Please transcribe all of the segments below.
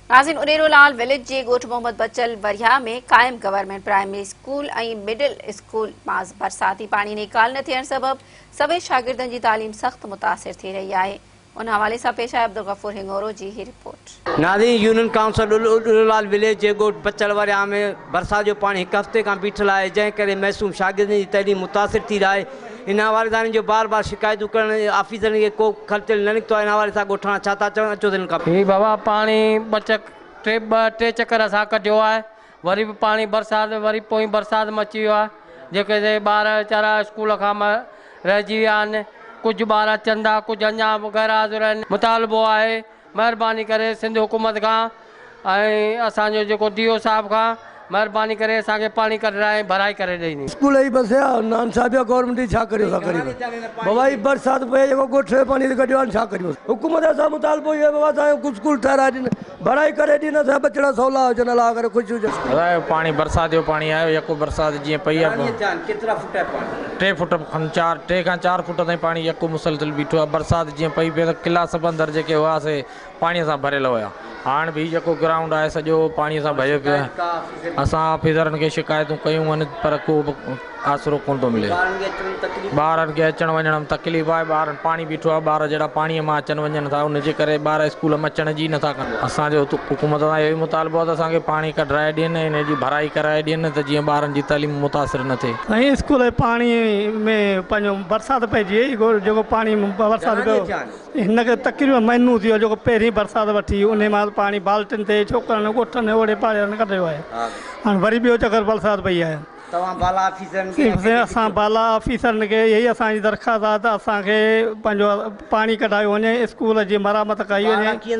ناظرين انيرو لال وليج جي ڳوٺ محمد بچل وريا ۾ قائم government primary school ۽ middle school مان برساتي پاڻي نيڪال نه ٿيڻ سبب سوين شاگردن جي تعليم سخت متاثر ٿي رهي آهي ان حوالي سان پيش آهي عبدالغفور هڱورو جي هي رپورٽ. ناظرين union council Anero Lal village جي ڳوٺ بچل وريا ۾ برسات جو پاڻي هڪ هفتي کان بيٺل آهي جنهن ڪري معصوم شاگردن جي تعليم متاثر ٿي رهي آهي هن حوالي دارن جون بار بار شڪايتون ڪرڻ ۽ آفيسرن کي ڪو خرچ نه نڪتو آهي ان حوالي سان ڳوٺاڻا ڇا ٿا چون اچو تن کان پڇون. هي بابا پاڻي ٻه چڪ ٽي ٻه ٽي چڪر اسان ڪڍيو آهي وري به پاڻي برسات وري پوئين برسات م اچي ويو آهي جيڪي سي ٻار ويچارا اسڪول کان م رهجي ويا آهن ڪجهه ٻار اچن ٿا ڪجهه اڃان غير حاضر آهن مطالبو آهي مھرباني ڪري سنڌ حڪومت کان ۽ اسان جو جيڪو ڊي او صاحب کان مھرباني ڪري اسان کي پاڻي ڪڍرائي ۽ ڀرائي ڪري ڏئي ني. اسڪول اھي بس يا نان صاحب يا گورنمينٽ جي ڇا ڪريو اسان غريب بابا ھي برسات پئي جيڪو ڳوٺ جو پاڻي ھتي ڪڍيو آھي ڇا ڪريون حڪومت جا اسان مطالبو اھو آھي بابا اسان جو اسڪول ٺھرائي ڏين ڀرائي ڪري ڏين اسان جا ٻچڙا سولا ھجن الله ڪري خوش ھجن. خدا جو پاڻي برسات جو پاڻي آيو يڪو برسات جيئن پئي آ. ٽي فوٽ کن چار ٽي کان چار فوٽ تائين پاڻي يڪو مسلسل بيٺو آهي برسات جيئن پئي پئي ته قلعا سب اندر جيڪي هئا سي پاڻي سان ڀريل هيا هاڻ به هي جيڪو گرائونڊ آهي سڄو پاڻي سان ڀريو پيو آهي اسان آفيسرن کي شڪايتون ڪيون آهن پر ڪو به آسرو ڪونه ٿو ملي ٻارن کي اچڻ وڃڻ ۾ تڪليف آهي ٻارن پاڻي بيٺو آهي ٻار جهڙا پاڻي مان اچن وڃن ٿا ان جي ڪري ٻار اسڪول ۾ اچڻ جي نٿا ڪن اسان جو حڪومت سان اهو ئي مطالبو آهي ته اسان کي پاڻي ڪڍرائي ڏين ۽ ان جي ڀرائي ڪرائي ڏين ته جيئن ٻارن جي تعليم متاثر نه ٿئي. سائين اسڪول جي پاڻي ۾ پنهنجو برسات پئجي وئي گو جيڪو پاڻي برسات گهڻا ڏينهن ٿيا آهن؟ پيو هن کي تقريبن مهينو ٿي ويو آهي جيڪو پهرين برسات وٺي انهي مهل پاڻي بالٽين تي ڇوڪرن ڳوٺن اوڙي پاڙي وارن ڪڍيو آهي ها سائين هاڻ وري ٻيو چڪر برسات پئي آهي توهان بالا آفيسرن کي سائين اسان بالا آفيسرن کي اهي ئي اسان جي درخواست آهي ته اسان کي پنهنجو پاڻي ڪڍايو وڃي، اسڪول جي مرمت ڪئي وڃي،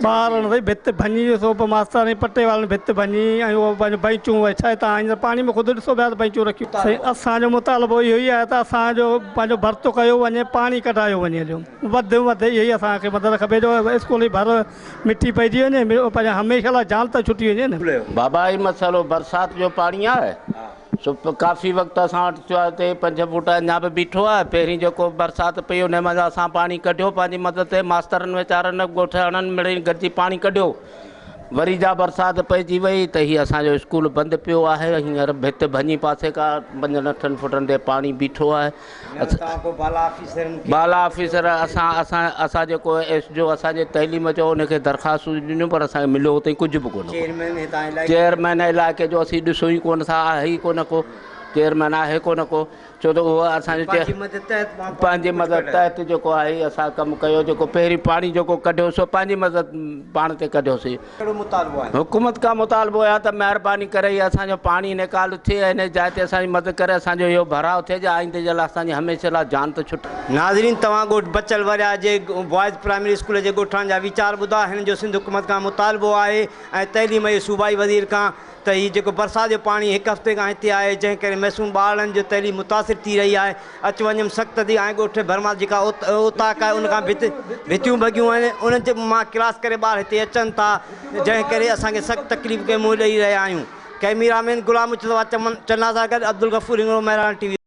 ٻارن ري ڀت ڀڃي، سو به ماسترياڻي پٽي وارن ڀت ڀڃي ۽ اهو پنهنجو بئنچون وري ٺاهي تان هينئر پاڻي ۾ خود ڏسو پيا ته بئنچون رکيون. سائين اسان جو مطالبو اهو ئي آهي ته اسان جو پنهنجو ڀرت ڪيو وڃي، پاڻي ڪڍايو وڃي جو وڌ ۾ وڌ اهي ئي اسان کي مدد کپي جو اسڪول جي ڀر مٺي پئجي وڃي، پنهنجي هميشه لاء جان ته ڇٽي وڃي نه. بابا هي مسئلو برسات جو پاڻي آهي. چپ ڪافي وقت اسان وٽ ٿيو آهي هتي پنج فوٽ اڃا به بيٺو آهي پهرين جيڪو برسات پئي ان منجهان اسان پاڻي ڪڍيو پنهنجي مدد تي ماسترن ويچارن ڳوٺ اڻن مڙئي گڏجي پاڻي ڪڍيو وري جا برسات پئجي وئي ته هي اسانجو اسڪول بند پيو آهي هينئر ڀت ڀڃي پاسي کان پنجن اٺن فوٽن تي پاڻي بيٺو آهي بالا آفيسر اسان اسان اسان جيڪو ايس جو اسان جي تعليم جو ان کي درخواستون ڏنيون پر اسان کي مليو تائين ڪجهه به ڪونه ڪو چيئرمين علائقي جو اسين ڏسو ئي ڪونه ٿا آهي ئي ڪونه ڪو چيئرمين آهي ڪونه ڪو ڇو ته اهو اسان جو پنهنجي مدد تحت جيڪو آهي اسان ڪم ڪيو جيڪو پهرين پاڻي جيڪو ڪڍيو سو پنهنجي مدد پاڻ تي ڪڍيوسي ڪهڙو مطالبو آهي؟ حڪومت کان مطالبو اهي آهي ته مهرباني ڪري هي اسان جو پاڻي نيڪال ٿئي ۽ انهي جاء تي اسان جي مدد ڪري اسان جو اهو ڀراء ٿئي جي آئيندي جي لاء اسان جي هميشه لاء جان ته ڇٽي. ناظرين توهان ڳوٺ بچل وريا جي بوائز پرائمري اسڪول جي ڳوٺاڻن جا ويچار ٻڌا هن جو سنڌ حڪومت کان مطالبو آهي ۽ تعليم جي صوبائي وزير کان ته هي جيڪو برسات جو پاڻي هڪ هفتي کان هتي آهي جنهن ڪري معصوم ٻارڙن جو تعليم متاثر ٿي رهي آهي اچ وڃ م سخت ٿي آهي ڳوٺ ڀرمار جيڪا اوطاق آهي ان کان ڀت ڀتيون ڀڳيون آهن ان جي مان ڪلاس ڪري ٻار هتي اچن ٿا جنهن ڪري اسان کي سخت تڪليف کي منهن ڏئي رهيا آهيون ڪئميرا مين غلام مجتبا چمن چنا سان گڏ عبدالغفور هنگڻو مهراڻ ٽي وي.